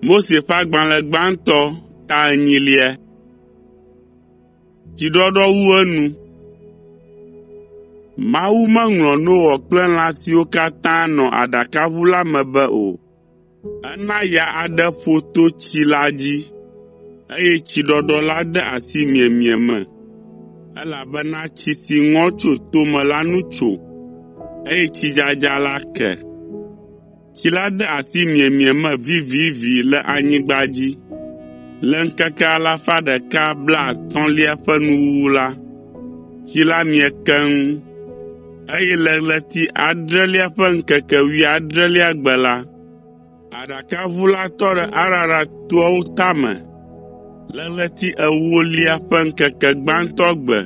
Mose ƒe agbalẽ gbãtɔ ta enyilia. Dziɖɔɖɔ wu enu. Mawu meŋlɔ Noa kple lã siwo katã nɔ aɖakaʋu la me be o. Ena ya aɖe ƒo to tsi la dzi, eye tsiɖɔɖɔ la de asi miemie me, elabena tsi si ŋɔ tso tome la nu tso, eye tsidzadza la ke. Tsi la de asi miemie me vivivi le anyigba dzi. Le ŋkeke alafa ɖeka blaatɔ̃lia ƒe nuwuwu la, tsi la mie keŋ. Eye le ɣleti adrelia ƒe ŋkeke wuiadrelia gbe la, aɖakaʋu la tɔ ɖe Ararat toawo tame. Le ɣleti ewolia ƒe ŋkeke gbãtɔ gbe,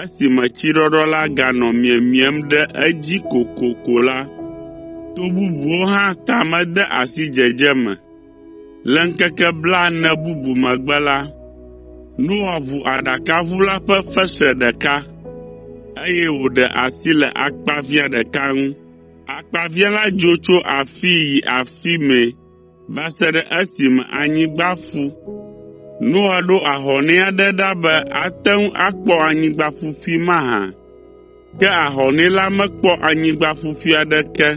esime tsiɖɔɖɔ la ganɔ miemiem ɖe edzi kokoko la, to bubuwo hã tame de asi dzedze me. Le ŋkeke blaene bubu megbe la, Noa ʋu aɖakaʋu la ƒe fesre ɖeka, eye wòɖe asi le akpaviã ɖeka ŋu. Akpaviã la dzo tso afii yi afi mɛ va se ɖe esime anyigba ƒu. Noa ɖo ahɔnɛ aɖe ɖa be ate ŋu akpɔ anyigba ƒuƒui mahã. Ke ahɔnɛ la mekpɔ anyigba ƒuƒui aɖeke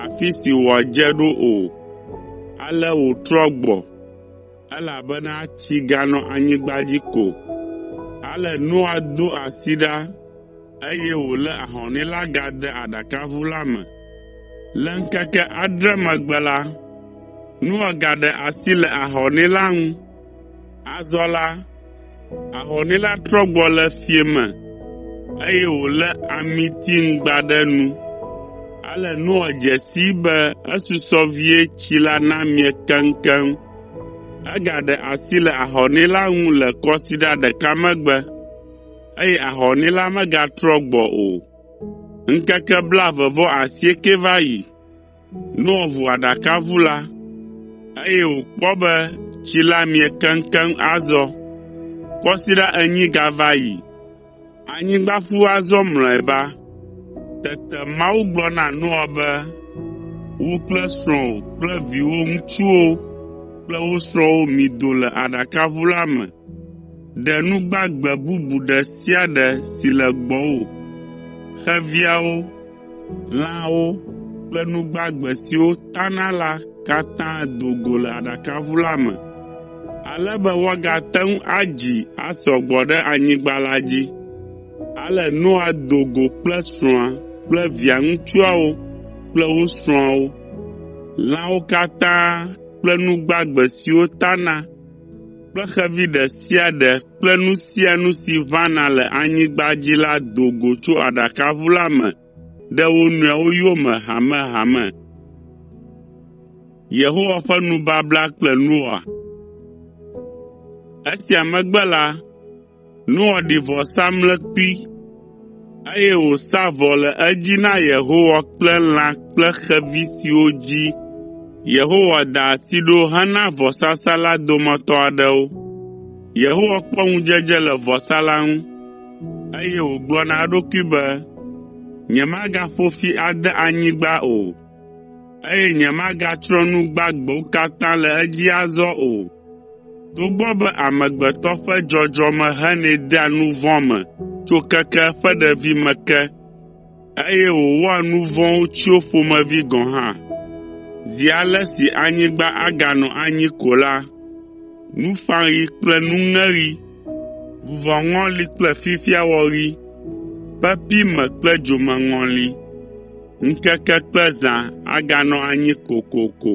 afi si wòadze ɖo o, ale wòtrɔ gbɔ, elabena tsi ganɔ anyigba dzi ko. Ale Noa do asi ɖa, eye wòlé ahɔnɛ la gade aɖakaʋu la me. Le ŋkeke adre megbe la, Noa gaɖe asi le ahɔnɛ la ŋu, Azɔ la, ahɔnɛ la trɔ gbɔ le fiẽ me, eye wòlé amitiŋgba ɖe nu. Ale Noa dze sii be esusɔ vie tsi la namie keŋkeŋ. Egaɖe asi le ahɔnɛ la ŋu le kɔsiɖa ɖeka megbe, eye ahɔnɛ la megatrɔ gbɔ o. Ŋkeke blaeve vɔ asiekɛ va yi. Noa ʋu aɖakaʋu la, eye wòkpɔ be tsi la mie keŋkeŋ azɔ. Kɔsiɖa enyi gava yi. Anyigba ƒu azɔ mlɔeba. Tete Mawu gblɔ na Noa be, “Wò kple srɔ̃wò kple viwò ŋutsuwo kple wo srɔ̃wo mido le aɖakaʋu la me. Ɖe nu gbagbe bubu ɖe sia ɖe si le gbɔwò, xeviawo, Lãwo kple nu gbagbe siwo tana la katã do go le aɖakaʋu la me, ale be woagate ŋu adzi asɔ gbɔ ɖe anyigba la dzi. Ale Noa do go kple srɔ̃a kple via ŋutsuawo kple wo srɔ̃awo. Lãwo katã kple nu gbagbe siwo tana kple xevi ɖe sia ɖe kple nu sia nu si ʋãna le anyigba dzi la do go tso aɖakaʋu la me ɖe wo nɔewo yome hamehame. Yehowa ƒe nubabla kple Noa Esia megbe la, Noa ɖi vɔsamlekpui, eye wòsa vɔ le edzi na Yehowa kple lã kple xevi siwo dzi Yehowa da asi ɖo hena vɔsasa la dometɔ aɖewo. Yehowa kpɔ ŋudzedze le vɔsa la ŋu, eye wògblɔ na eɖokui be, “Nyemagaƒo fi ade anyigba o.” eye nyemagatsrɔ̃ nu gbagbewo katã le edzi azɔ o. Togbɔ be amegbetɔ ƒe dzɔdzɔme henɛ dea nu vɔ̃ me tso keke eƒe ɖevime ke, eye wòwɔa nu vɔ̃wo tsyo ƒomevi gɔ̃ hã. Zi ale si anyigba aganɔ anyi ko la, nuƒãɣi kple nuŋeɣi, vuvɔŋɔli kple fifiawɔɣi, pepi me kple dzomeŋɔli, Ŋkeke kple zã aganɔ anyi kokoko.